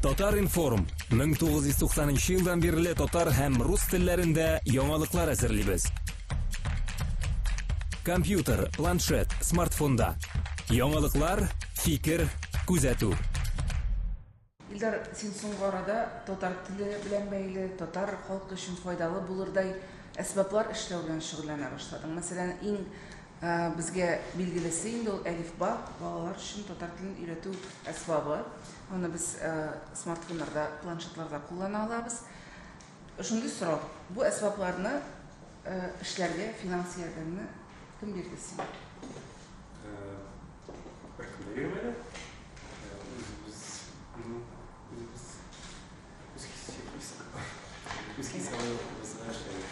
Татар-информ 1990 елдан бирле татар һәм рус телләрендә яңалыклар әзерлибез. Компьютер, планшет, смартфонда. Яңалыклар, фикер, күзәтү. Илдар, син соңгы арада татар теле белән бәйле, татар халкы өчен файдалы булырдай әсбаплар эшләү белән шөгыльләнә башладың. Мәсәлән, иң Безгә билгелесе инде ул әлифба, балалар өчен татар телен өйрәтү әсбабы. Аны без смартфоннарда, планшетларда куллана алабыз. Шундый сорау. Бу әсбапларны эшләргә финанс ярдәмне кем бирде сиңа? Беркем дә бирмәде. Үз хисабыбызга эшләдек.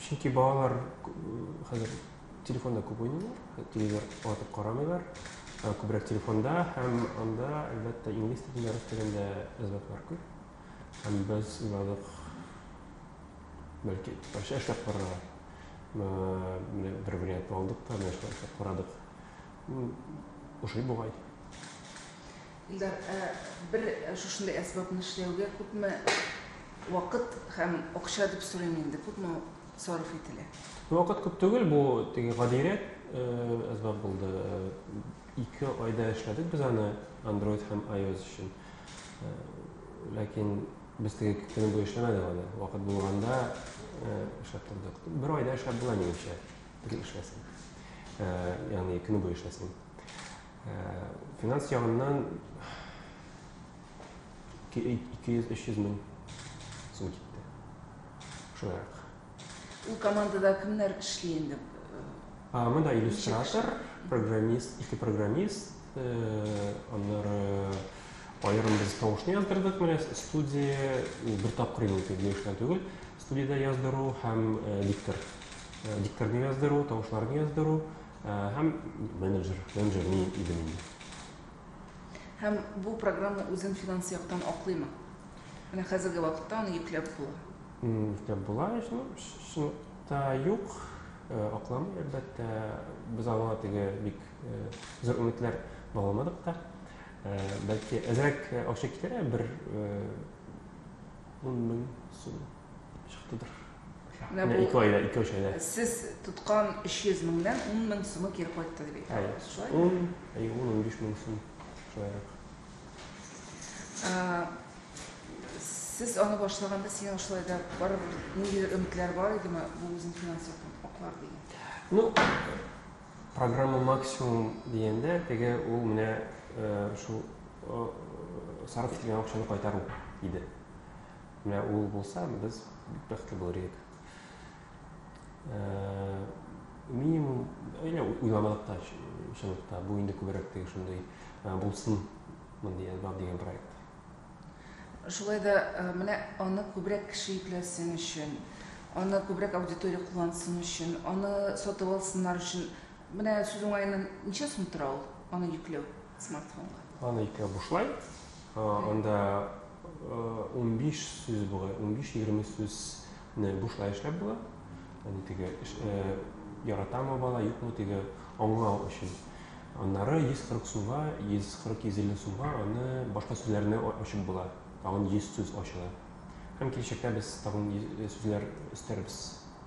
Чөнки балалар хәзер телефонда күп уйныйлар, телевизор атып карамыйлар, күбрәк телефонда һәм анда, әлбәттә, инглиз телендә, рус телендә әзбәкләр күп. Һәм без уйладык, бәлки, башка эшләп карарга. Менә бер вариант алдык та, менә эшләп карадык. Ошый бугай. Илдар, ә бер шушындый әсбапны эшләүгә күпме вакыт һәм акча дип сорыйм инде, күпме сарыф ителә? Вакыт күп түгел, бу теге гадиерәк әсбап булды. Ике айда эшләдек без аны Android һәм iOS өчен. Ләкин без теге көне буе эшләмәдек аны. Вакыт булганда эшләп тордык. Бер айда эшләп була, минемчә, теге эшләсен. Ягъни көне буе эшләсен. Финанс ягыннан 200-300 мең сум китте. Шулайрак. Ул командада кемнәр эшли инде? Монда иллюстратор, программист, ике программист, аннары аерым без тавышны яздырдык, менә студия бер тапкыр инде итеп йөрүчеләр түгел. Студиядә яздыру һәм диктор. Дикторны яздыру, тавышларны яздыру, Һәм менеджер, менеджер мин идем инде. Һәм бу программа үзен финанс яктан аклыймы? Менә хәзерге вакытта аны йөкләп була. Йөкләп була, чынлыкта юк, акламый әлбәттә. Без аңа теге бик зур өметләр багламадык та. Бәлки әзрәк акча китерә, бер ун мең сум. Чыктыдыр. Менә бу ике айда, ике өч айда. Сез тоткан 300 меңнән 10 мең сумы кире кайтты дип әйтәсез, шулай? 10, әй 10, 15 мең сум шулайрак. Сез аны башлаганда сиңа шулай да барыбер ниндидер өметләр бар идеме, бу үзен финанс яктан аклар дигән? Ну, программа максимум дигәндә, теге ул менә шул сарыф ителгән акчаны кайтару иде. Менә ул булса, без бик бәхетле булыр идек. Э, минимум, әле уйламадык та чынлыкта, бу инде күбрәк теге шундый э, булсын мондый альбом дигән проект. Шулай да э, менә аны күбрәк кеше ипләсен өчен, аны күбрәк аудитория куллансын өчен, аны сатып алсыннар өчен. Менә сүз уңаеннан ничә сум тора ул аны йөкләү смартфонга? Аны йөкләү бушлай. Анда унбиш сүз була, унбиш-егерме сүзне бушлай эшләп була. Аны теге яратамы бала, юкмы теге аңлау өчен. Аннары 140 сумга, 140-150 сумга аны башка сүзләрне ачып була. Тагын 100 сүз ачыла. Һәм киләчәктә без тагын сүзләр өстәрбез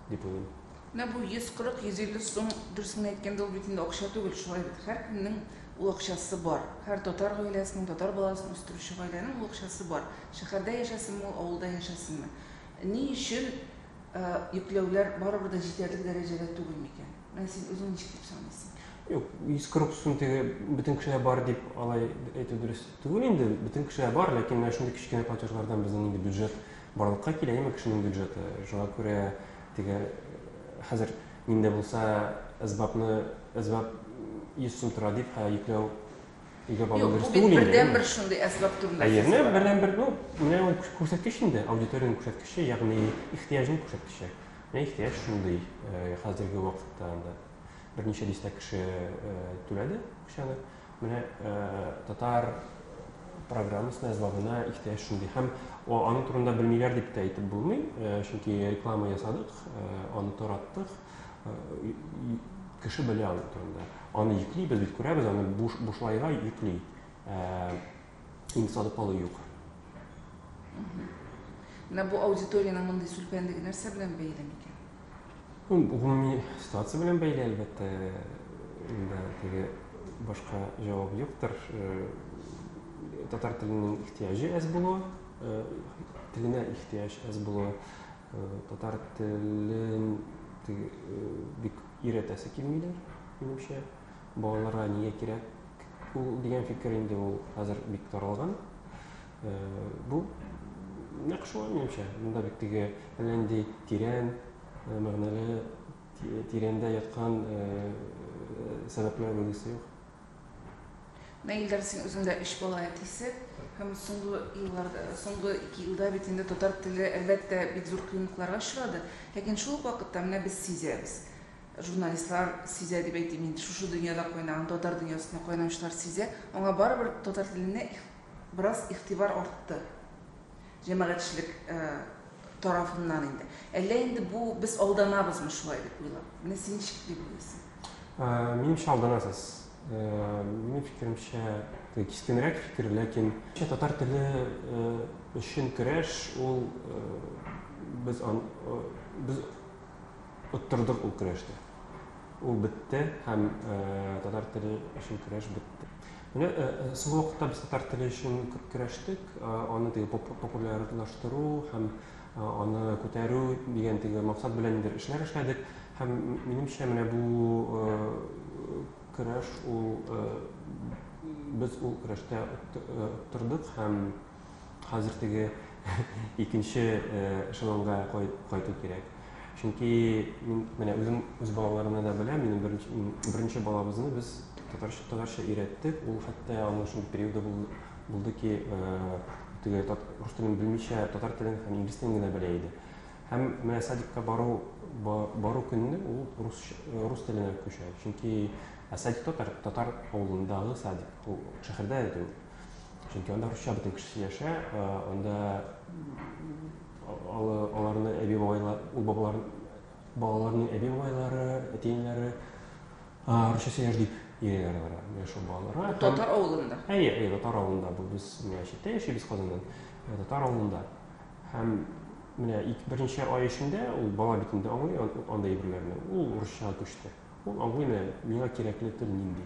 дип уйлыйм. Менә бу 140-150 сум, дөресен генә әйткәндә, ул бит инде акча түгел, шулай бит. Һәркемнең ул акчасы бар. Һәр татар гаиләсенең, татар баласын үстерүче гаиләнең ул акчасы бар. Шәһәрдә яшәсенме ул, авылда яшәсенме. Ни өчен йөкләүләр барыбер дә җитәрлек дәрәҗәдә түгел микән? Менә син үзең ничек дип саныйсың? Юк, 140 сум теге бөтен кешегә бар дип алай әйтү дөрес түгел инде. Бөтен кешегә бар, ләкин менә шундый кечкенә платежлардан безнең инде бюджет барлыкка килә, яме кешенең бюджеты. Шуңа күрә Теге хәзер нинди булса әсбапны әсбап 100 сум тора дип хә йөкләү өйгә бару Юк, дөрес бу түгел бит инде. бердән бер шундый әсбап турында Әйе, сүз менә бара. бердән бер ну, менә ул кү- күрсәткеч инде, аудиториянең күрсәткече, ягъни ихтыяҗның күрсәткече. Менә ихтыяҗ шундый э, хәзерге вакытта анда берничә дистә кеше э, түләде акчаны. Менә татар программасын әзбабына ихтыяҗ шундый. Һәм аның турында белмиләр дип тә әйтеп булмый, чөнки реклама ясадык, аны тараттык, кеше белә аның турында. Аны йөклибез бит, күрәбез, аны буш, бушлайга йөкли. Инде сатып алу юк. Менә бу аудиториянең мондый сүлпәнлеге нәрсә белән бәйле микән? Гомуми ситуация белән бәйле, әлбәттә, инде теге башка җавап юктыр. Татар теленең ихтияҗы әз булуы, теленә ихтияҗ әз булуы, татар телен бик өйрәтәсе килмиләр, минемчә. Балаларга нигә кирәк ул дигән фикер инде ул хәзер бик таралган. Бу нәкъ шулай минемчә. Монда бит теге әллә нинди тирән, мәгънәле, тирәндә яткан сәбәпләр билгесе юк. Менә Илдар, син үзең дә өч бала әтисе һәм соңгы елларда, соңгы ике елда бит инде татар теле, әлбәттә, бик зур кыенлыкларга очрады. Ләкин шул ук вакытта менә без сизәбез, журналистлар сизә дип әйтим, инде шушы дөньяда кайнаган татар дөньясында кайнаучылар сизә, аңа барыбер татар теленә Бераз игътибар артты җәмәгатьчелек тарафыннан инде. Әллә инде бу без алданабызмы шулай дип уйлап? Менә син ничек дип уйлыйсың? Минемчә алданасыз. Минем фикеремчә, кискенрәк фикер, ләкин татар теле өчен көрәш ул без без оттырдык ул көрәшне. Ул бетте һәм татар теле өчен көрәш бетте. Менә соңгы вакытта без татар теле өчен күп көрәштек, аны теге популярлаштыру һәм аны күтәрү дигән теге максат белән нидер эшләр эшләдек. Һәм минемчә менә бу көрәш ул без ул көрәштә оттырдык һәм Хәзер теге икенче эшелонга кайту кирәк. Чөнки мин менә үзем үз балаларымны да беләм, минем беренче, беренче балабызны без татарча, татарча өйрәттек. Ул хәтта аның шул периоды булды, булды ки, э, теге тат, рус телен белмичә, татар телен һәм инглиз телен генә белә иде. Һәм менә садикка бару, бару көнне ул рус, э, рус теленә күчә. Чөнки ә садик татар, татар авылындагы садик, ул шәһәрдә дә түгел. чөнки анда русча бөтен кеше сөйләшә анда аларны әби бабайлар ул бабалар балаларның әби бабайлары әти әниләре русча сөйләш дип йөриләр алар менә шул балаларга татар авылында әйе әйе татар авылында бу без менә читтә яшибез казаннан татар авылында һәм менә берничә ай эчендә ул бала битендә аңлый анда әйберләрне ул русчага күчте ул аңлый менә миңа кирәкле тел нинди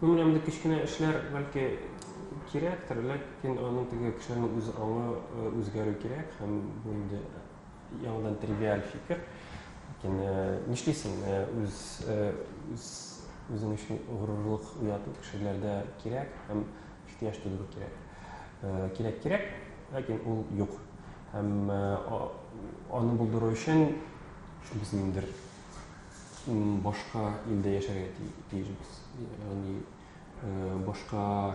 Күңелемдә кечкенә эшләр бәлки кирәктер, ләкин аның теге кешеләрнең үз аңы үзгәрү кирәк һәм бу инде яңадан тривиаль фикер. Ләкин нишлисең, үз үз үзең өчен горурлык уяту кешеләрдә кирәк һәм ихтыяҗ тудыру кирәк. Кирәк кирәк, ләкин ул юк. Һәм аны булдыру өчен шул безнеңдер башка илдә яшәргә тиешбез. Ягъни башка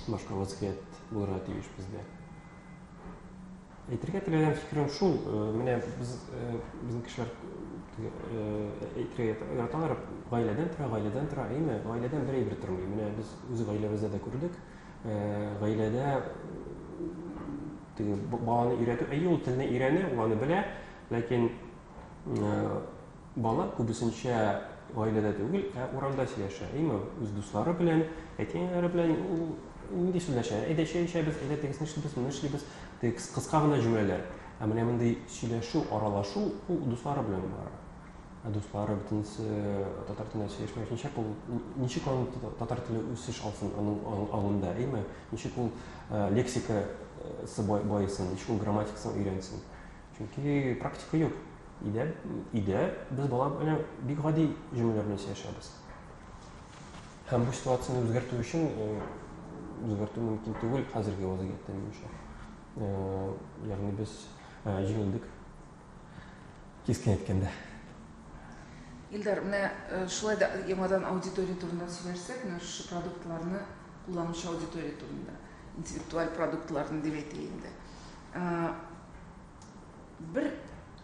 башка вазгыять булырга тиеш бездә. Әйтергә теләгән фикерем шул, менә без безнең кешеләр әйтергә яраталар, гаиләдән тора, гаиләдән тора, әйме, гаиләдән бер әйбер тормый. Менә без үз гаиләбездә дә күрдек, гаиләдә теге баланы өйрәтү, әйе, ул телне өйрәнә, ул аны белә, Ләкин бала күбесенчә гаиләдә түгел, ә урамда сөйләшә. Әйме, үз дуслары белән, әти-әниләре белән ул нинди сөйләшә? Әйдә чәй эчәбез, әйдә тегесен эшлибез, моны эшлибез. Текс кыска гына җөмләләр. Ә менә мондый сөйләшү, аралашу ул дуслары белән бара. Ә дуслары бөтенесе татар телендә сөйләшмәгәч, ничек ул ничек аның татар теле үсеш алсын аның аңында, әйме? Ничек ул лексикасы баесын, ничек ул грамматикасын өйрәнсен? Чөнки практика юк. Өйдә, өйдә без бала белән бик гади җөмләләр белән сөйләшәбез. Һәм бу ситуацияне үзгәртү өчен э, үзгәртү мөмкин түгел хәзерге вазгыятьтә минемчә. Э, ягъни без э, җиңелдек кискен әйткәндә. Илдар, менә э, шулай да яңадан аудитория турында сөйләшсәк, менә шушы продуктларны кулланучы аудитория турында, интеллектуаль продуктларны дип әйтәйек инде. Бер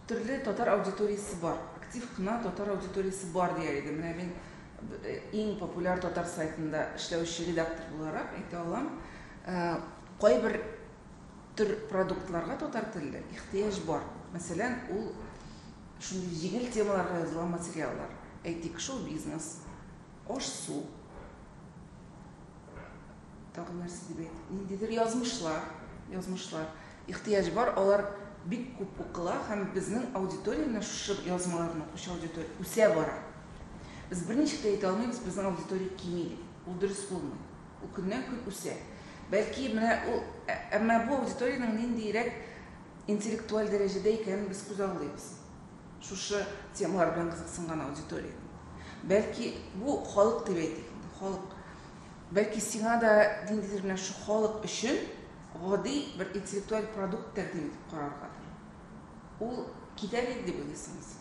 төрле татар аудиториясе бар. Актив кына татар аудиториясе бар дияр идем. Менә мин иң популяр татар сайтында эшләүче редактор буларак әйтә алам. Кайбер төр продуктларга татар телле ихтыяҗ бар. Мәсәлән, ул шундый җиңел темаларга язылган материаллар. Әйтик, шоу-бизнес, аш-су, Тагын нәрсә дип әйтик, ниндидер язмышлар, язмышлар, ихтыяҗ бар, алар бик күп укыла һәм безнең аудитория менә шушы язмаларны укучы аудитория үсә бара. Без берничек тә әйтә алмыйбыз, безнең аудитория кими дип. Ул дөрес булмый. Ул көннән-көн үсә. Бәлки менә ул, ә, әмма бу аудиториянең ниндиерәк интеллектуаль дәрәҗәдә икәнен без күзаллыйбыз. Шушы темалар белән кызыксынган аудитория. Бәлки бу халык дип әйтик инде, халык. Бәлки сиңа да ниндидер менә шу халык өчен гади бер интеллектуаль продукт тәкъдим итеп караргадыр. Ул китә бит дип уйлыйсыңмы син?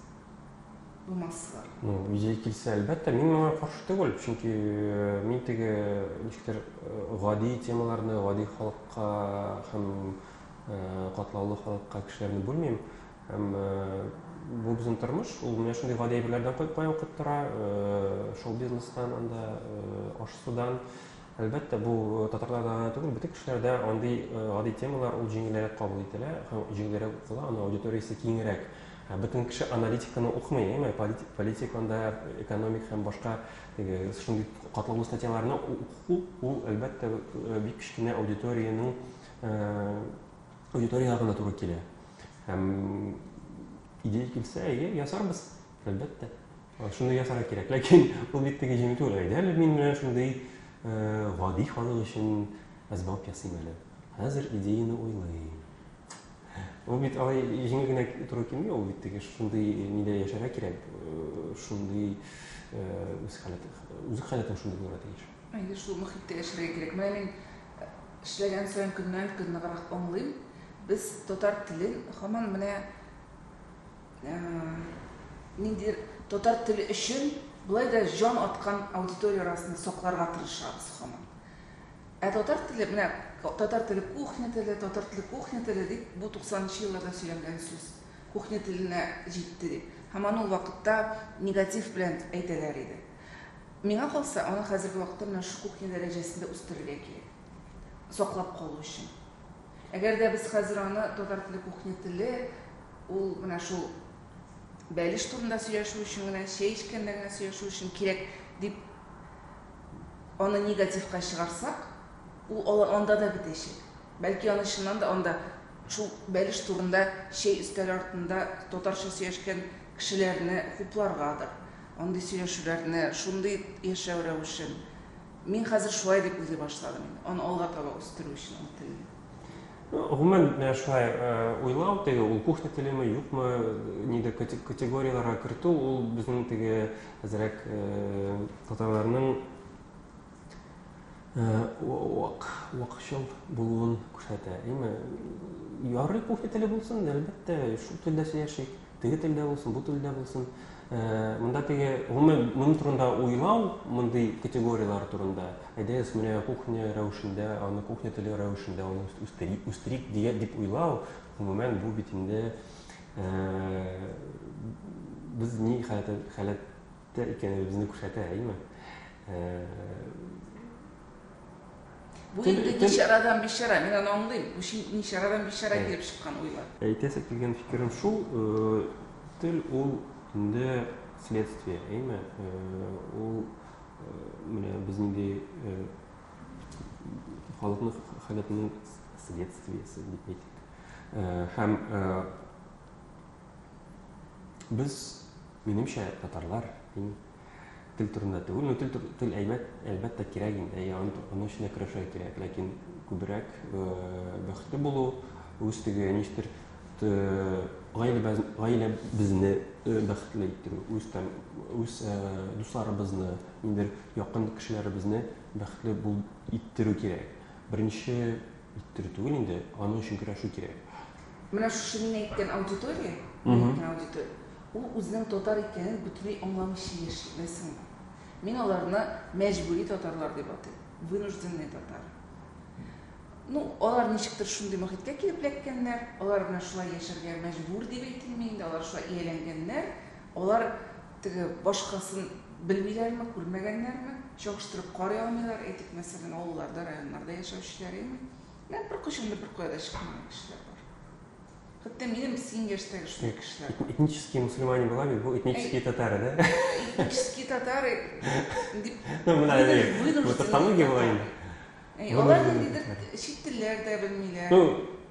Бу массалар. Ну, идея килсә, әлбәттә, мин моңа каршы түгел, чөнки э, мин теге ничектер э, гади темаларны гади халыкка һәм э, катлаулы халыкка кешеләрне бүлмим. Һәм бу безнең тормыш, ул менә шундый гади әйберләрдән кайтмай укып тора, шоу-бизнестан, анда аш-судан. Әлбәттә, бу татарларда гына түгел, бөтен кешеләрдә андый гади темалар ул җиңелрәк кабул ителә һәм җиңелрәк укыла, аның аудиториясе киңрәк. Бөтен кеше аналитиканы укымый, әйме, политик анда, экономик һәм башка теге шундый катлаулы статьяларны уку, ул, әлбәттә, бик кечкенә аудиториянең аудитория гына туры килә. Һәм идея килсә, әйе, ясарбыз, әлбәттә. Шуны ясарга кирәк. Ләкин ул бит теге җиңел түгел. Әйдәле мин менә шундый э, гади халык өчен әзбап ясыйм әле. Хәзер идеяны уйлыйм. Ул бит алай җиңел генә туры килми, ул бит теге шундый нидә яшәргә кирәк, э, шундый э, үз халәте, үз халәтен шундый булырга тиеш. Әйе, шул мөхиттә яшәргә кирәк. Менә мин эшләгән саен көннән көн ныграк аңлыйм. Без татар телен һаман менә ниндидер татар теле өчен болай да җан аткан аудитория арасында сакларга тырышабыз һаман. Ә татар теле, менә татар теле кухня теле, татар теле кухня теле дип бу 90 нчы елларда сөйләнгән сүз кухня теленә җитте дип. Һаман ул вакытта негатив белән әйтәләр иде. Миңа калса, аны хәзерге вакытта менә шушы кухня дәрәҗәсендә үстерергә кирәк, саклап калу өчен. Әгәр дә без хәзер аны татар теле кухня теле, ул менә шул бәлеш турында сөйләшү өчен генә, чәй эчкәндә генә сөйләшү өчен кирәк дип аны негативка чыгарсак, ул алар анда да бетәчәк. Бәлки аны чыннан да анда шул бәлеш турында чәй өстәле артында татарча сөйләшкән Кешеләрне хупларгадыр, андый сөйләшүләрне, шундый яшәү рәвешен. Мин хәзер шулай дип уйлый башладым инде. Аны алга таба үстерү өчен ул телне. Гомумән, шулай уйлау, теге ул кухня телеме, юкмы, нидер категорияләргә кертү, ул безнең теге әзрәк татарларның, вак, вакчыл булуын күрсәтә. Әйме, ярый кофе теле булсын, әлбәттә, шул телдә сөйләшик, теге телдә булсын, бу телдә булсын. Э, монда теге, гомумән, моның турында уйлау, мондый категорияләр турында, әйдәгез, менә кухня рәвешендә, аны кухня теле рәвешендә аны үстерик, үстерик дигән дип уйлау, гомумән, бу бит инде э, без ни халәт Тә икәнебезне күрсәтә, әйеме? Бу инде ничарадан бичара, мин аны аңлыйм. Бу ничарадан бичара килеп чыккан уйлар. Әйтәсе килгән фикерем шул, тел ул инде следствие, әйме? Ул менә без нинди халыкның халәтенең следствиесе дип әйтик. Һәм без Минемчә, татарлар иң тел турында түгел, ну тел тел әйбәт, әлбәттә кирәк инде, әйе, аны аны өчен дә көрәшергә кирәк, ләкин күбрәк бәхетле булу, үз теге ничектер гаиләбез гаиләбезне бәхетле иттерү, үз там үз дусларыбызны, ниндидер якын кешеләребезне бәхетле бул иттерү кирәк. Беренче иттерү түгел инде, аның өчен көрәшү кирәк. Менә шушы мин әйткән аудитория, мин әйткән аудитория, ул үзенең татар икәнен бөтенләй аңламыйча яши, беләсеңме? Мин аларны мәҗбүри татарлар дип атыйм, вынужденный татар. Ну, алар ничектер шундый мохиткә килеп эләккәннәр, алар белән шулай яшәргә мәҗбүр дип әйтелми инде, алар шулай ияләнгәннәр, алар теге башкасын белмиләрме, күрмәгәннәрме, чагыштырып карый алмыйлар, әйтик, мәсәлән, авылларда, районнарда яшәүчеләр, әйеме? Менә беркайчан да беркая да чыкмаган кешеләр бар. Хәтта минем синең яшьтәге шундый кешеләр бар. Этнический мусульманин була бит, бу этнический татары, да? Этнический татары дип. Ну, менә әйе. Бу тавтология була инде. Әй, алар ниндидер чит телләр дә белмиләр. Ну,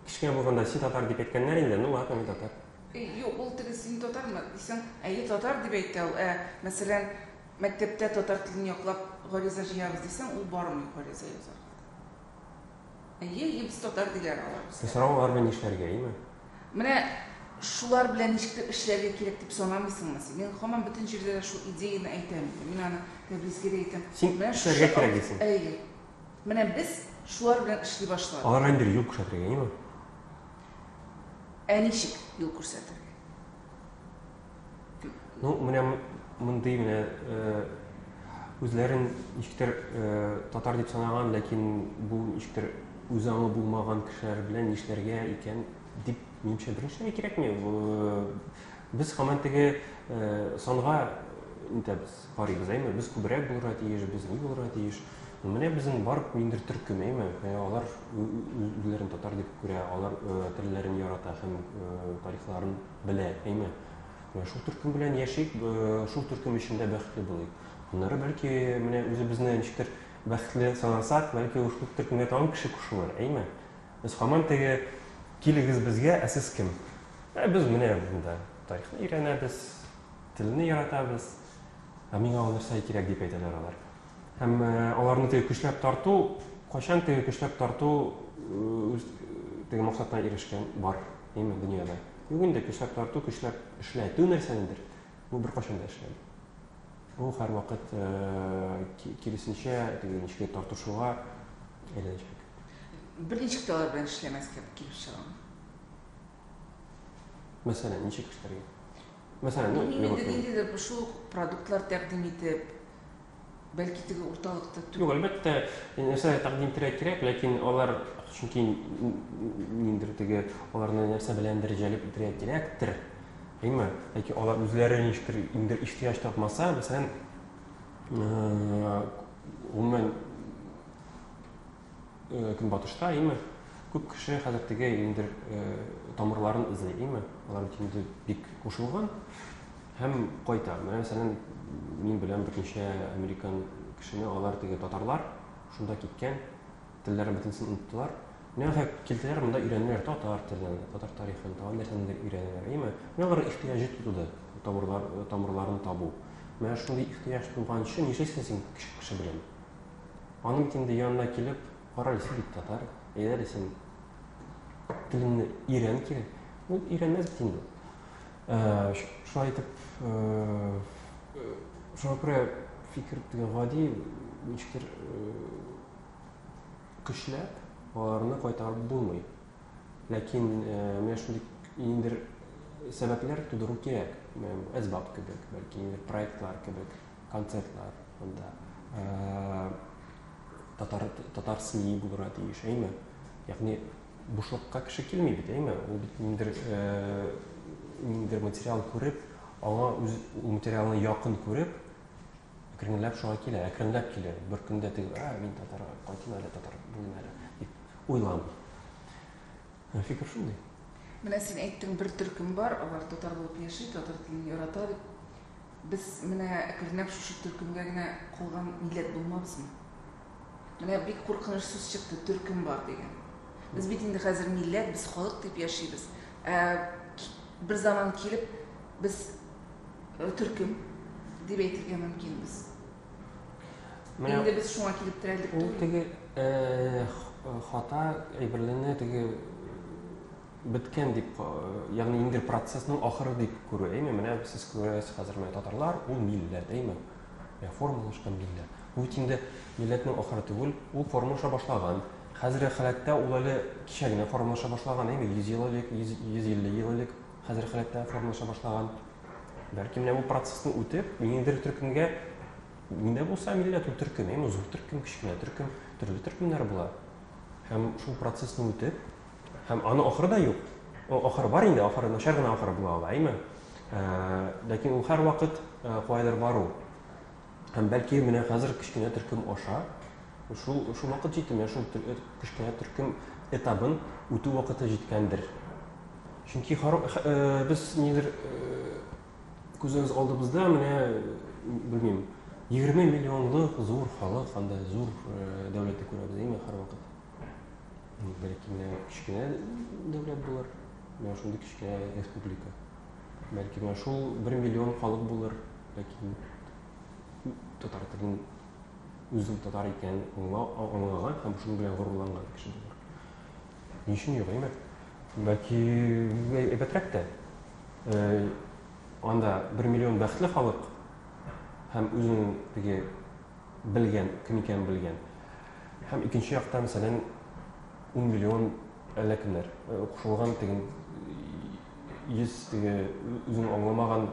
кечкенә булганда син татар дип әйткәннәр инде, ну ладно, мин татар. Юк, ул теге син татармы дисәң, әйе, татар дип әйтә ул. Ә, мәсәлән, мәктәптә татар телен яклап гариза җыябыз дисәң, ул бармый гариза язарга. Әйе, ебс татар диләр алар безгә. Сез сорау алар белән нишләргә, име? Менә шулар белән ничектер эшләргә кирәк дип санамыйсыңмы син? Мин хаман бөтен җирдә дә шул идеяне әйтәм инде. Мин аны Тәбризгә дә әйтәм. Син Менә эшләргә шушы кирәк акт- дисең. Әйе. Менә без шулар белән эшли башладык. Алар белән бер юл күрсәтергә, име? Ә ничек юл күрсәтергә? Ну, менә мондый менә э, үзләрен ничектер э, татар дип санаган, ләкин бу ничектер үз аңы булмаган кешеләр белән нишләргә икән дип минемчә беренчеләй кирәкми. Без хаман теге э, санга нитәбез, карыйбыз, әйме? Без күбрәк булырга тиеш, без ни булырга тиеш. Менә безнең бар ниндер төркем, әйме? Алар үзләрен татар дип күрә, алар телләрен ярата һәм тарихларын белә, әйме? Менә шул төркем белән яшик, шул төркем эчендә бәхетле булыйк. Аннары бәлки менә үзебезне ничектер бәхетле санасак, бәлки шул төркемгә тагын кеше кушылыр, әйме? Без хаман теге килегез безгә, ә сез кем? Ә без менә монда тарихны өйрәнәбез, телне яратабыз. Ә миңа ул нәрсә кирәк дип әйтәләр алар. Һәм аларны теге көчләп тарту, кайчан теге көчләп тарту үз теге максатына ирешкән бар. Әйме, дөньяда. Юк инде, көчләп тарту, көчләп эшләтү нәрсәнедер. Бу бер кашын да эшләми. Бу һәр вакыт киресенчә, теге ничек тартышуга әйләнәчәк. Бер ничек тә алар белән эшләмәскә килеп чыгам. Мәсәлән, ничек эшләргә? Мәсәлән, ну, Мин инде ниндидер шул продуктлар тәкъдим итеп, Бәлки теге урталыкта түгел. Юк, әлбәттә, нәрсә тәкъдим итәргә кирәк, ләкин алар чөнки ниндер теге аларны нәрсә беләндер җәлеп итәргә кирәктер. Әйме, яки алар үзләре ништер инде ихтыяҗ тапмаса, мәсәлән, гомумән Э, көнбатышта име күп кеше хәзер теге ниндер э, тамырларын эзли име алар бит инде бик кушылган һәм кайта менә мәсәлән мин белән берничә американ кешене алар теге татарлар шунда киткән телләрен бөтенесен оныттылар менә килделәр монда өйрәнделәр татар телен татар тарихын тагын нәрсәнедер өйрәнәләр име менә алар ихтыяҗы туды тамырлар тамырларын табу менә шундый ихтыяҗ туган өчен нишлисең син кеше белән Аның инде янына килеп, карале, син бит татар, әйдәле син телеңне өйрән кире. Ул өйрәнмәс бит инде. Э, шулай итеп, э, э, шуңа күрә фикер дигән гади ничектер көчләп аларны кайтарып булмый. Ләкин менә шундый ниндидер сәбәпләр тудыру кирәк. Әсбап кебек, бәлки проектлар кебек. концертлар монда э, татар татар СМИ булырга тиеш, әйме? Ягъни бушлыкка кеше килми бит, әйме? Ул бит ниндер э, ниндер материал күреп, аңа үз ул материалны якын күреп, әкренләп шуңа килә, әкренләп килә. Бер көндә теге, а, мин татар, кайтын әле татар булыйм әле дип уйламый. Э, фикер шундый. Менә син әйттең, бер төркем бар, алар татар булып яши, татар телен ярата дип. Без менә әкренләп шушы төркемгә генә калган милләт булмабызмы? Менә бик куркыныч сүз чыкты, төркем бар дигән. Без бит инде хәзер милләт, без халык дип яшибез. Ә бер заман килеп, без э, төркем дип әйтергә мөмкинбез. Менә Инде без шуңа килеп терәлдек ул түгел. теге э, х- э, хата әйберләрне теге беткән дип, э, ягъни инде процессның ахыры дип күрү, әйме? Менә сез күрәсез хәзер менә татарлар, ул милләт, әйме? Ә формалашкан милләт. Бу бит инде милләтнең ахыры түгел, ул формалаша башлаган. Хәзерге халәттә ул әле кичә генә формалаша башлаган, әйме? 100 ел элек, 150 ел элек хәзерге халәттә формалаша башлаган. Бәлки менә бу процессны үтеп, ниндидер төркемгә ниндә булса милләт ул төркем, әйме? Зур төркем, кечкенә төркем, төрле төркемнәр була. Һәм шул процессны үтеп, Һәм аның ахыры да юк. О, ахыры бар инде, ахыры начар гына ахыры була ала, әйме? Ләкин ул һәрвакыт кайдыр бару. Һәм бәлки менә хәзер кечкенә төркем аша шул шул вакыт җитеме, шул кечкенә төркем этабын үтү вакыты җиткәндер. Чөнки без нидер күзебез алдыбызда менә белмим, 20 миллионлык зур халык, анда зур дәүләтне күрәбез, әйме, һәрвакыт. Бәлки менә кечкенә дәүләт булыр, менә шундый кечкенә республика. Бәлки менә шул бер миллион халык булыр, ләкин татар телен үзен татар икән аңлаган һәм шуның белән горурланган кеше булыр. Ни өчен юк, әйме? Бәлки әйбәтрәк тә. Анда бер миллион бәхетле халык һәм үзенең теге белгән, кем икәнен белгән. Һәм икенче яктан, мәсәлән, ун миллион әллә кемнәр э, кушылган теге йөз теге үзен аңламаган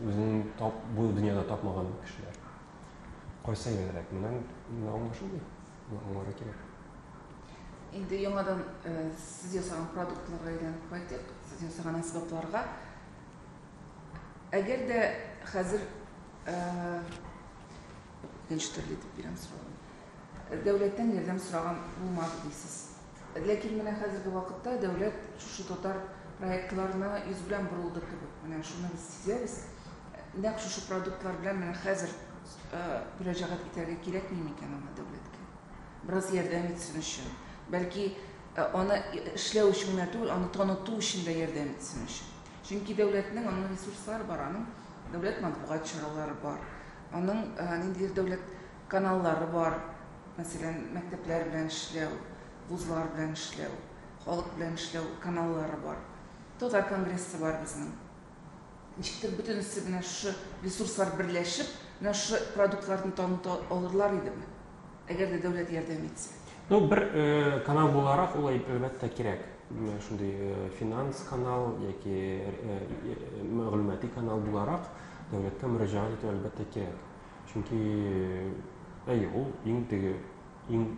үзен э, тап бу дөньяда тапмаган кешеләр. Кайсы егелрәк? Менә менә аңлашылмый. Аңларга кирәк. Инде яңадан э, сез ясаган продуктларга әйләнеп кайтыйк, сез ясаган әсбапларга. Әгәр дә хәзер Икенче төрле итеп бирәм сорауны. Дәүләттән ярдәм сораган булмады дисез. Ләкин менә хәзерге вакытта дәүләт шушы татар проектларына йөз белән борылды кебек. Менә шуны без сизәбез. Нәкъ шушы продуктлар белән менә хәзер мөрәҗәгать итәргә кирәкми микән аңа дәүләткә? Бераз ярдәм итсен өчен. Бәлки аны эшләү өчен генә түгел, аны таныту өчен дә ярдәм итсен өчен. Чөнки дәүләтнең аның ресурслары бар, аның дәүләт матбугат чаралары бар, аның ниндидер дәүләт каналлары бар, мәсәлән, мәктәпләр белән эшләү, вузлар белән эшләү, халык белән эшләү каналлары бар. Татар конгрессы бар безнең. Ничектер бөтенесе менә шушы ресурслар берләшеп, менә шушы продуктларны таныта алырлар идеме? Әгәр дә дәүләт ярдәм итсә. Ну, бер э, канал буларак ул әлбәттә кирәк. Шундый э, финанс канал яки э, мәгълүмати канал буларак дәүләткә мөрәҗәгать итү әлбәттә кирәк. Чөнки әй ул иң теге иң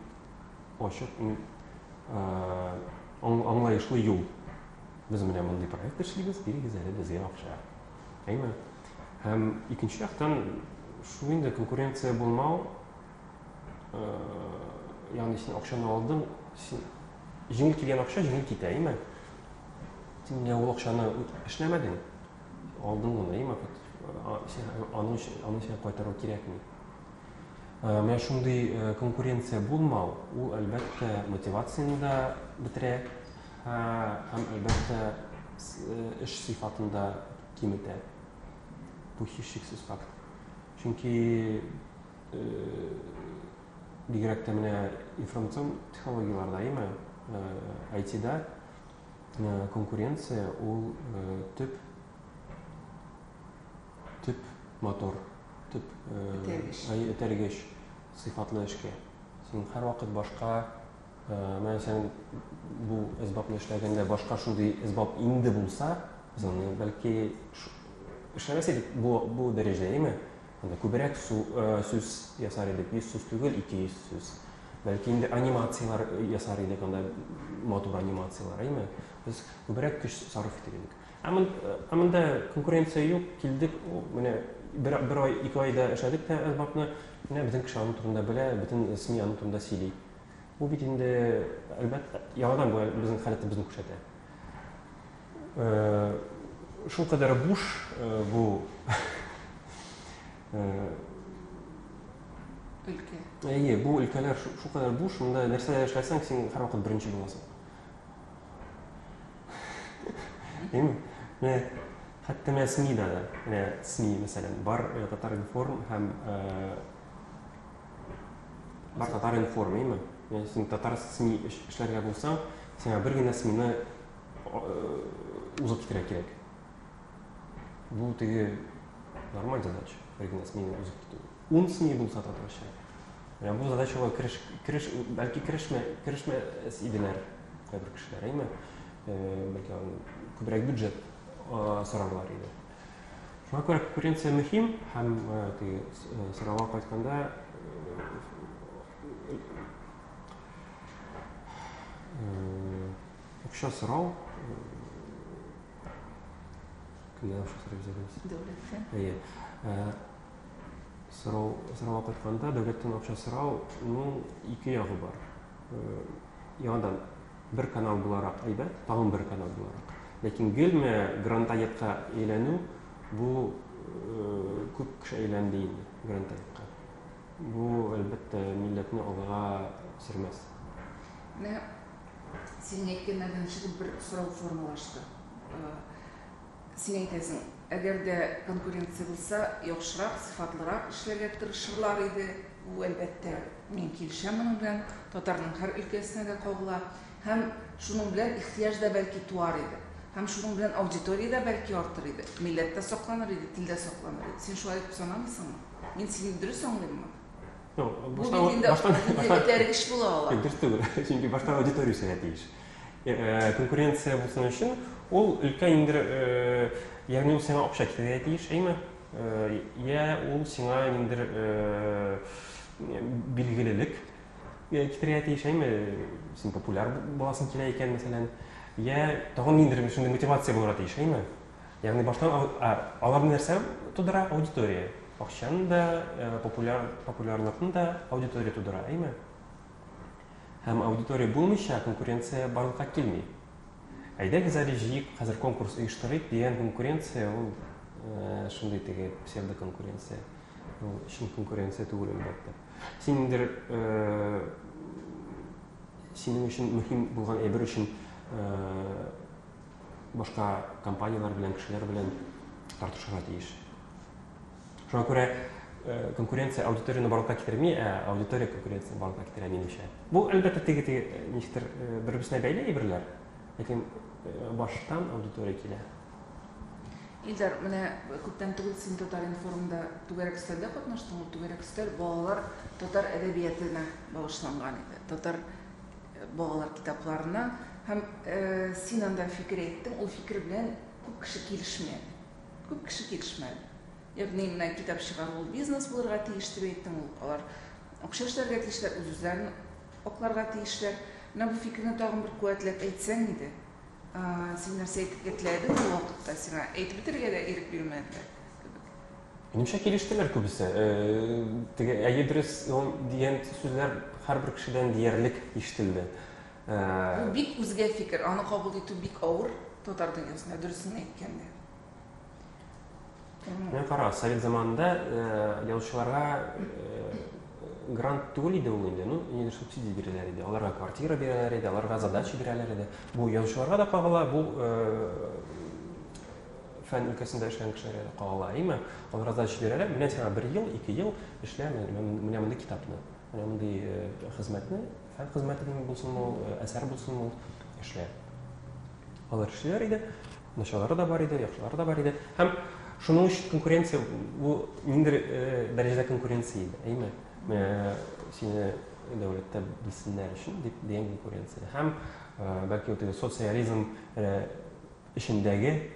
ачык, иң аңлаешлы юл. Без менә мондый проект эшлибез, бирегез әле безгә акча. Әйме? Һәм икенче яктан шул инде конкуренция булмау, э, ягъни син акчаны алдың, син җиңел килгән акча җиңел китә, име? Син менә ул акчаны эшләмәдең, алдың гына, име? Аның өчен аны сиңа кайтару кирәкми. Э, менә шундый э, конкуренция булмау, ул әлбәттә мотивацияне дә бетерә һәм әлбәттә эш сыйфатында киметә. Бу һичшиксез факт. Чөнки э, бигрәк тә менә информацион технологияләрдә, яме IT-да э, э, конкуренция ул төп төп мотор, төп этәргеч сыйфатлы эшкә. Син һәрвакыт башка Менә сән бу әсбапны эшләгәндә башка шундый әсбап инде булса, без аны бәлки эшләмәс идек бу, бу дәрәҗәдә, әйме? Анда күбрәк су, сүз ясар идек, 100 сүз түгел, 200 сүз. Бәлки инде анимацияләр ясар идек, анда матур анимацияләр, әйме? Без күбрәк көч сарыф итер идек. Ә монда конкуренция юк, килдек, менә бер, бер ай, ике айда эшләдек тә әсбапны, менә безнең кеше аның турында белә, бөтен СМИ аның турында сөйли. Бу бит инде, әлбәттә, яңадан бу безнең халәтебезне күрсәтә. Шул кадәр буш бу өлкә. Әйе, бу өлкәләр шул кадәр буш, монда нәрсә эшләсәң, син һәрвакыт беренче буласың. Әйе. Менә хәтта менә СМИда да, менә СМИ, мәсәлән, бар Татар-информ һәм Бар татар информ, әйме? Яни син татар СМИ эшләргә булсаң, сиңа бер генә СМИны узып китерә кирәк. Бу теге нормаль задача, бер генә СМИны узып китү. Ун СМИ булса татарча. Менә бу задачага кереш, кереш, бәлки керешмә, керешмәс иделәр кайбер кешеләр, әйме? Бәлки күбрәк бюджет сорарлар иде. Шуңа күрә конкуренция мөһим һәм э, теге э, сорауга кайтканда акча сорау кемнән акча сорап җибәрәбез? Дәүләттән. Әйе. Э, сорау сорауга кайтканда дәүләттән акча сорауның ике ягы бар. Э, яңадан Бер канал буларак әйбәт, тагын бер канал буларак. Ләкин гелме грантаекка әйләнү бу күп кеше әйләнде инде грантаекка. Бу әлбәттә милләтне алга сөрмәс. Менә синең әйткәннәрдән чыгып бер сорау формалашты. Син әйтәсең, әгәр дә конкуренция булса, яхшырак, сыйфатлырак эшләргә тырышырлар иде. Бу, әлбәттә, мин килешәм моның белән, татарның һәр өлкәсенә дә кагыла. Һәм шуның белән ихтыяҗ да бәлки туар иде. Һәм шуның белән аудитория дә бәлки артыр иде. Милләт тә сакланыр иде, тел дә сакланыр иде. Син шулай дип санамыйсыңмы? Мин сине дөрес аңлыйммы? Бу бит инде, инде этәргеч була ала. Юк, дөрес түгел. Чөнки башта аудитория үсәргә тиеш. Э, конкуренция булсын өчен ул өлкә инде э, ягъни ул сиңа акча китерергә тиеш әйме э, йә ул сиңа инде билгелелек китерергә тиеш әйме син популяр буласың килә икән мәсәлән йә тагын ниндидер шундый мотивация булырга тиеш әйме ягъни баштан алар нәрсә тудыра аудитория акчаны да популяр популярлыкны да аудитория тудыра әйме Һәм аудитория булмыйча конкуренция барлыкка килми. Әйдәгез әле җыек, хәзер конкурс оештырыйк дигән конкуренция ул э, шундый теге псевдоконкуренция. Ул чын конкуренция түгел әлбәттә. Син ниндер э, синең өчен мөһим булган әйбер өчен э, башка компанияләр белән, кешеләр белән тартышырга тиеш. Шуңа күрә конкуренция аудиторияне барлыкка китерми, ә аудитория конкуренцияне барлыкка китерә, минемчә. Бу, әлбәттә, теге теге ничектер бер-берсенә бәйле әйберләр, ләкин баштан аудитория килә. Илдар, менә күптән түгел син Татар-информда түгәрәк өстәлдә катнаштың. Ул түгәрәк өстәл балалар татар әдәбиятына багышланган иде. Татар балалар китапларына һәм син анда фикер әйттең, ул фикер белән күп кеше килешми әле. Күп кеше килешмәде. Ягъни, менә китап чыгару ул бизнес булырга тиеш, дип әйттем. Ул, алар акча эшләргә тиешләр, үз-үзләрен акларга тиешләр. Менә бу фикерне тагын бер куәтләп әйтсәң иде. Син нәрсә әйтергә теләдең ул вакытта? Сиңа әйтеп бетерергә дә ирек бирмәделәр кебек. Минемчә, килештеләр күбесе. Теге әйе, дөрес, дигән сүзләр һәрбер кешедән диярлек ишетелде. Бу бик үзгә фикер, аны кабул итү бик авыр татар дөньясында, дөресен әйткәндә. Менә кара, совет заманында язучыларга грант түгел иде ул инде, ну, нидер субсидия бирәләр иде, аларга квартира бирәләр иде, аларга задача бирәләр иде. Бу язучыларга да кагыла, бу фән өлкәсендә эшләгән кешеләргә дә кагыла, әйме? Аларга задача бирәләр, менә сиңа бер ел, ике ел эшлә, менә мондый китапны, менә мондый хезмәтне фән хезмәтеме булсын ул, әсәр булсын ул, эшләр. Алар эшлиләр иде, началары да бар иде, яхшылары да бар иде. Һәм шуның өчен конкуренция, бу ниндер дәрәҗәдә конкуренция иде, әйме? Менә сине дәүләттә белсеннәр өчен дип дигән конкуренция. Һәм бәлки вот социализм эчендәге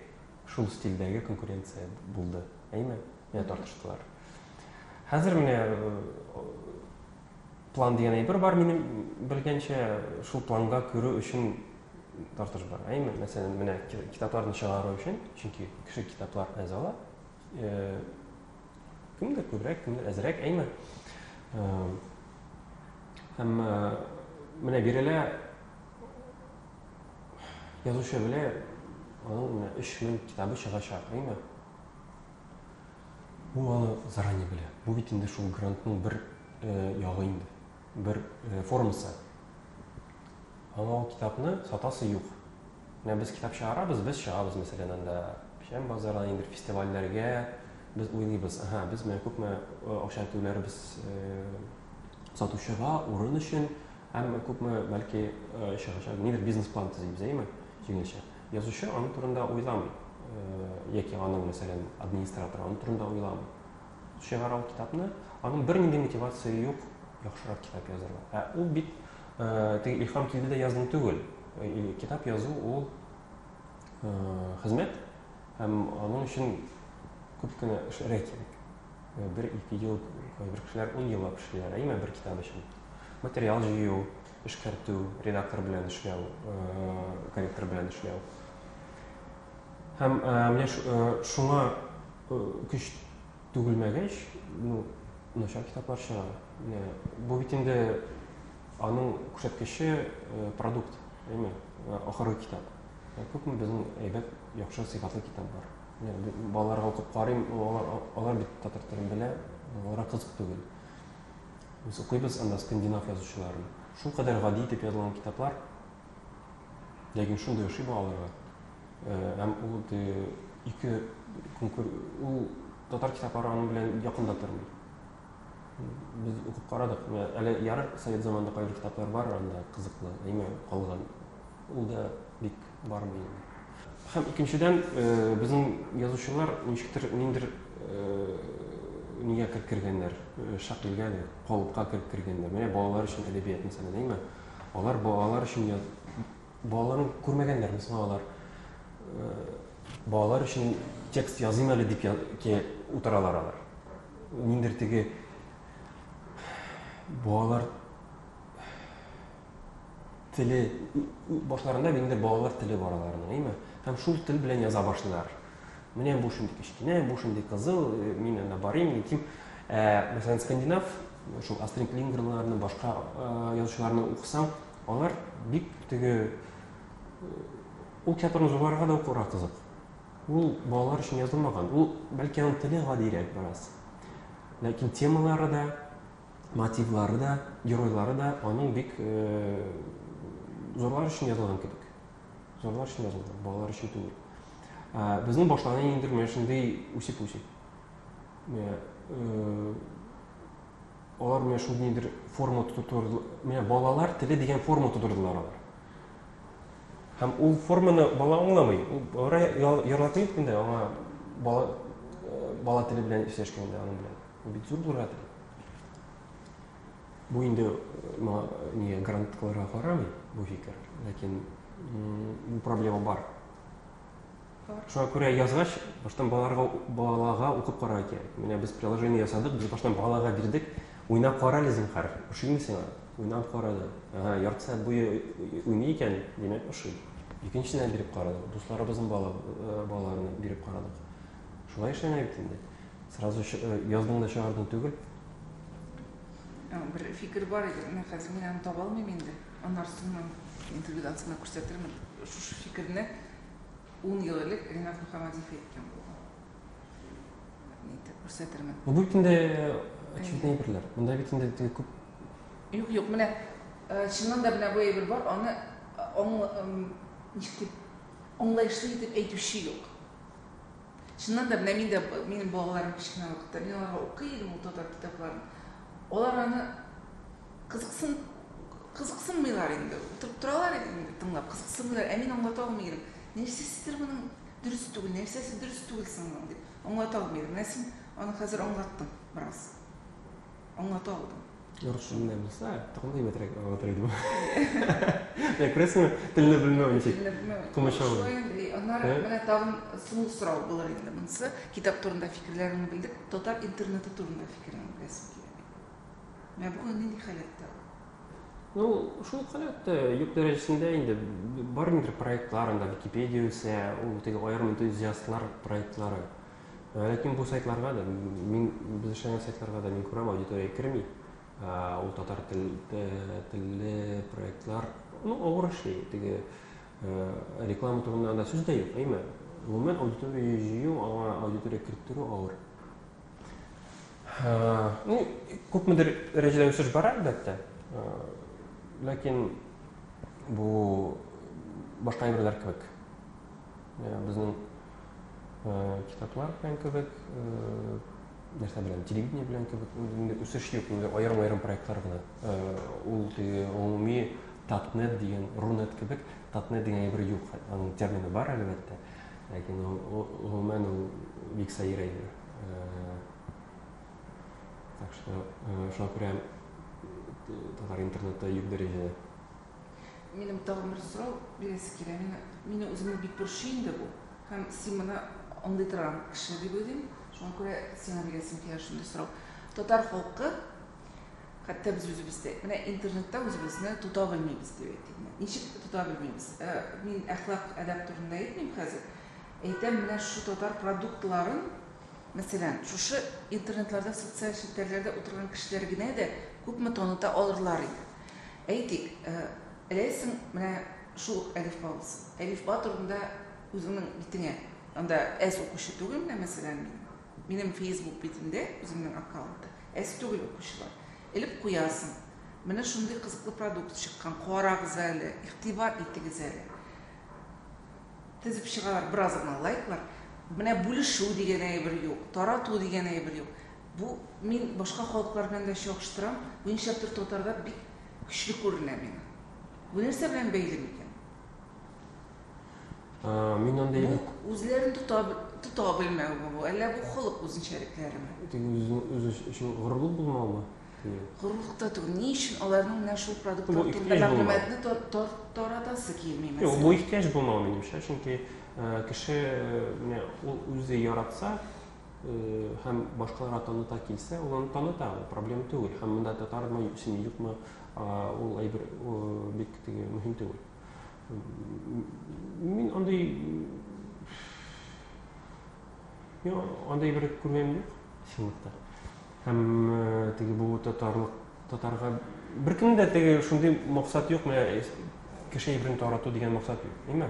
шул стильдәге конкуренция булды, әйме? Менә тартыштылар. Хәзер менә План дигән әйбер бар минем белгәнчә, шул планга керү өчен тартыш бар. Әйме, мәсәлән, менә китапларны чыгару өчен, чөнки кеше китаплар әз ала. Э, кемдер күбрәк, кемдер әзрәк, әйме. Э, һәм э, менә бирелә язучы белә, аның менә 3000 китабы чыгачак, әйме. Ул аны заранее белә. Бу бит инде шул грантның бер ягы инде, бер формасы. Аңа ул китапны сатасы юк. Менә без китап чыгарабыз, без чыгабыз, мәсәлән, анда Печән базары, андый бер фестивальләргә без уйлыйбыз. Ага, без менә күпме акча түләрбез сатучыга, урын өчен, һәм күпме бәлки чыгачак, нидер бизнес-план төзибез, әйеме? Җиңелчә. Язучы аның турында уйламый, яки аның, мәсәлән, администраторы аның турында уйламый. Чыгара ул китапны, аның бернинди мотивация юк, яхшырак китап язарга. Ә ул бит теге илһам килде дә яздым түгел. Китап язу ул хезмәт һәм аның өчен күп кенә эшләргә кирәк. Бер ике ел, кайбер кешеләр ун еллап эшлиләр, әйме бер китап өчен. Материал җыю, эшкәртү, редактор белән эшләү, корректор белән эшләү. Һәм менә шуңа көч түгелмәгәч, ну, начар китаплар чыга. Бу бит инде аның күрсәткече продукт, әйме, ахыргы китап. Күпме безнең әйбәт, яхшы сыйфатлы китап бар. Балаларга укып карыйм, алар бит татар телен белә, аларга кызык түгел. Без укыйбыз анда скандинав язучыларын. Шул кадәр гади итеп язылган китаплар, ләкин шундый ошый балаларга. Э, һәм ул ике конкур... ул татар китаплары аның белән якында тормый. Без укып карадык. Әле ярар совет заманында кайбер китаплар бар анда кызыклы, әйме калган. Ул да бик бармый инде. Һәм икенчедән, безнең язучылар ничектер ниндер нигә кереп кергәннәр, шәкылгә, калыпка кереп кергәннәр. Менә балалар өчен әдәбият мәсәлән, әйме? Алар балалар өчен яз... балаларны күрмәгәннәрме соң алар? Балалар өчен текст языйм әле дип утыралар алар. Ниндер теге балалар теле башларында инде балалар теле бар аларның, әйме? Һәм шул тел белән яза башлыйлар. Менә бу шундый кечкенә, бу шундый кызыл, э, мин анда барыйм, итим. Ә, мәсәлән, скандинав, шул Астрид Лингренларны, башка э, язучыларны укысаң, алар бик теге э, ул театрны зурларга да укырга кызык. Ул балалар өчен язылмаган. Ул бәлки аның теле гадирәк бераз. Ләкин темалары да мотивлары да, геройлары да аның бик зурлар өчен язылган кебек. Зурлар өчен язылган, балалар өчен түгел. Безнең башлана инде менә шундый үсеп-үсеп. Алар менә шундыйдыр форма тотырдылар. Менә балалар теле дигән форма тотырдылар алар. Һәм ул форманы бала аңламый. Ул бара яратмый инде аңа бала бала теле белән эшләшкәндә аның белән. Бит зур булады. Бу инде не грантларга карамый бу фикер, ләкин бу проблема бар. Шуңа күрә язгач, баштан балаларга балага укып карарга кирәк. Менә без приложение ясадык, без баштан балага бирдек. Уйнап кара әле зинһар. Ошыймы сиңа? Уйнап карады. Ага, ярты сәгать буе уйный икән, димәк, ошый. Икенчесенә биреп карадык. Дусларыбызның бала балаларына биреп карадык. Шулай эшләнә бит инде. Сразу э, яздың да чыгардың түгел. Бер фикер бар иде, менә хәзер мин аны таба алмыйм инде. Анарсыннан интервьюда астына күрсәтермен. Шушы фикерне 10 ел элек Ренат Мөхәммәдиев әйткән булган. Нитеп күрсәтермен. Бу бит инде очевидный әйберләр. Монда бит инде теге күп Юк, юк, менә э, чыннан да менә бу әйбер бар, аны э, аңлаешлы итеп әйтүче юк. Чыннан да, менә мин дә, минем балаларым кечкенә вакытта, мин аларга укый идем ул татар китапларын. Алар аны кызыксын, кызыксынмыйлар инде. Утырып торалар инде тыңлап, кызыксынмыйлар. Ә мин аңлата алмый идем. Нәрсәсидер моның дөрес түгел, нәрсәсе дөрес түгел соң моның дип аңлата алмый идем. Менә син аны хәзер аңлаттың бераз. Аңлата алдым. Русчаны да белсә, тагын әйбәтрәк аңлатыр идем. Менә күрәсеңме, телне белмәү ничек? Телне белмәү. Комачау. Шулай инде. Аннары менә тагын соңгы сорау булыр инде монысы. Китап турында фикерләреңне белдек. Татар интернеты турында фикереңне беләсем килә. Менә бүген нинди халәттә ул? Ну, шул халәттә юк дәрәҗәсендә инде бар инде проектлар анда, Википедия үсә, ул теге аерым энтузиастлар проектлары. Ләкин бу сайтларга да, мин, без эшләгән сайтларга да мин күрәм, аудитория керми. Ул татар тел, телле проектлар, ну, авыр эшли. Теге реклама турында да сүз дә юк, әйме. Гомумән, аудитория җыю, аңа аудитория керттерү авыр. Ну, күпмедер дәрәҗәдә үсеш бар, әлбәттә. Ләкин бу башка әйберләр кебек. Безнең китаплар белән кебек, нәрсә белән, телевидение белән кебек, инде үсеш юк, инде аерым-аерым проектлар гына. Ул теге гомуми татнет дигән, рунет кебек, татнет дигән әйбер юк. Аның термины бар, әлбәттә. Ләкин гомумән ул бик сәер әйбер. Так что, шуңа күрә татар интернеты юк дәрәҗәдә. Минем тагын бер сорау бирәсе килә. Мин, мине үземне бик борчый инде бу. Һәм син моны андый торган кеше дип уйлыйм. Шуңа күрә сиңа бирәсем килә шундый сорау. Татар халкы, хәтта без үзебез дә, менә интернетта үзебезне тота белмибез дип әйтик. Ничек тота белмибез? Э, мин әхлак, әдәп турында әйтмим хәзер. Әйтәм, менә шу татар продуктларын Мәсәлән, шушы интернетларда, социаль челтәрләрдә утырган кешеләр генә дә күпме таныта алырлар иде. Әйтик, эләйсең менә шул ук Әлифба булсын. Әлифба турында үзеңнең битеңә, анда әз укучы түгел менә, мәсәлән, мин. Минем Facebook битемдә, үземнең аккаунтта, әз түгел укучылар. Элеп куясың, менә шундый кызыклы продукт чыккан, карагыз әле, игътибар итегез әле. Тезеп чыгалар бераз гына лайклар. Менә бүлешү дигән әйбер юк, тарату дигән әйбер юк. Бу мин башка халыклар белән дә чагыштырам, бу нишләптер татарда бик көчле күренә миңа. Бу нәрсә белән бәйле микән? Мин андый Бу үзләрен тота, тота белмәүме бу, әллә бу халык үзенчәлекләреме? Үз өчен горурлык булмаумы? Горурлык та түгел. Ни өчен аларның менә шул продуктлар турында мәгълүматны таратасы килми мәсәлән? Юк, бу ихтыяҗ булмау минемчә, чөнки кеше менә ул үзе яратса һәм башкаларга таныта килсә, ул аны таныта, ул проблем түгел. Һәм монда татармы, син юкмы, ул әйбер бик теге мөһим түгел. Мин андый Мин андый бер күргән юк, чынлыкта. Һәм э, теге бу татарлык татарга беркемдә дә теге шундый максат юк, менә э, кеше әйберен тарату дигән максат юк, әйме?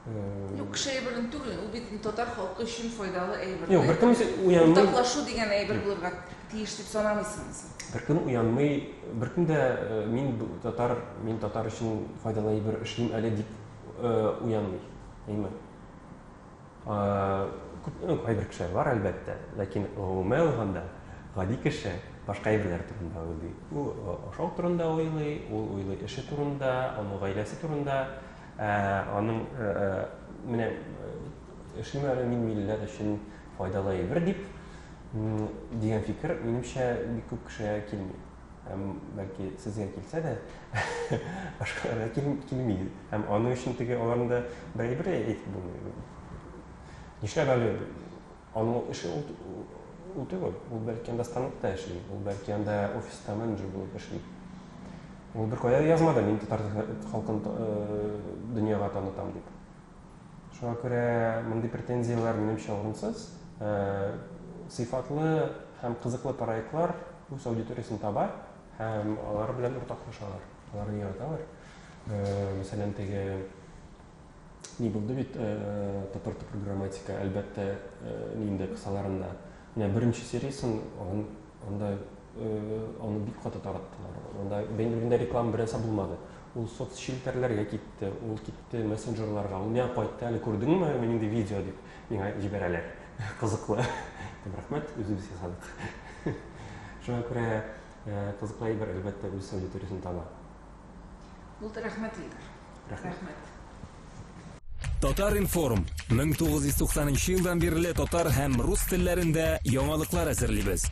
Э, юк, кеше әйберен түгел, ул бит татар халкы өчен файдалы әйбер. Юк, беркем уянмый. Уртаклашу дигән әйбер булырга тиеш дип санамыйсыңмы син? Беркем уянмый, беркем дә мин татар, мин татар өчен файдалы әйбер эшлим әле дип уянмый, әйме? Күптән үк кайбер кешеләр бар, әлбәттә, ләкин гомумән алганда, гади кеше башка әйберләр турында уйлый. Ул ашау турында уйлый, ул уйлый эше турында, аның гаиләсе турында, аның менә эшлим әле мин милләт өчен файдалы әйбер дип дигән фикер, минемчә, бик күп кешегә килми. һәм бәлки сезгә килсә дә башкаларга килми һәм аның өчен теге аларның да бер әйбере әйтеп булмый нишләп әле аның эше ул, ул түгел ул бәлки анда станокта эшли ул бәлки анда офиста менеджер булып эшли ул беркая язмады мин татар халкын э, дөньяга танытам дип Шуңа күрә мондый претензияләр, минемчә, урынсыз. Сыйфатлы һәм кызыклы проектлар үз аудиториясен таба һәм алар белән уртаклашалар, аларны яраталар. Мәсәлән, теге ни булды бит, топыр-топыр грамматика, әлбәттә, нинди кысаларында. Менә беренче сериясен анда Аны бик каты тараттылар. Анда бәйнелгендә реклама беренсә булмады. Ул соцчелтәрләргә китте, ул китте мессенджерларга. Ул миңа кайтты әле күрдеңме, мин инде видео дип миңа җибәрәләр. Кызыклы. Дим, рәхмәт, үзебез ясадык. Шуңа күрә кызыклы әйбер, әлбәттә, үз аудиториясен таба. Булды, рәхмәт, Илдар. Рәхмәт. Татар-информ, 1990 елдан бирле татар һәм рус телләрендә яңалыклар әзерлибез.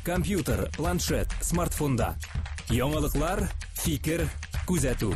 Компьютер, планшет, смартфонда. Яңалыклар, фикер, күзәтү.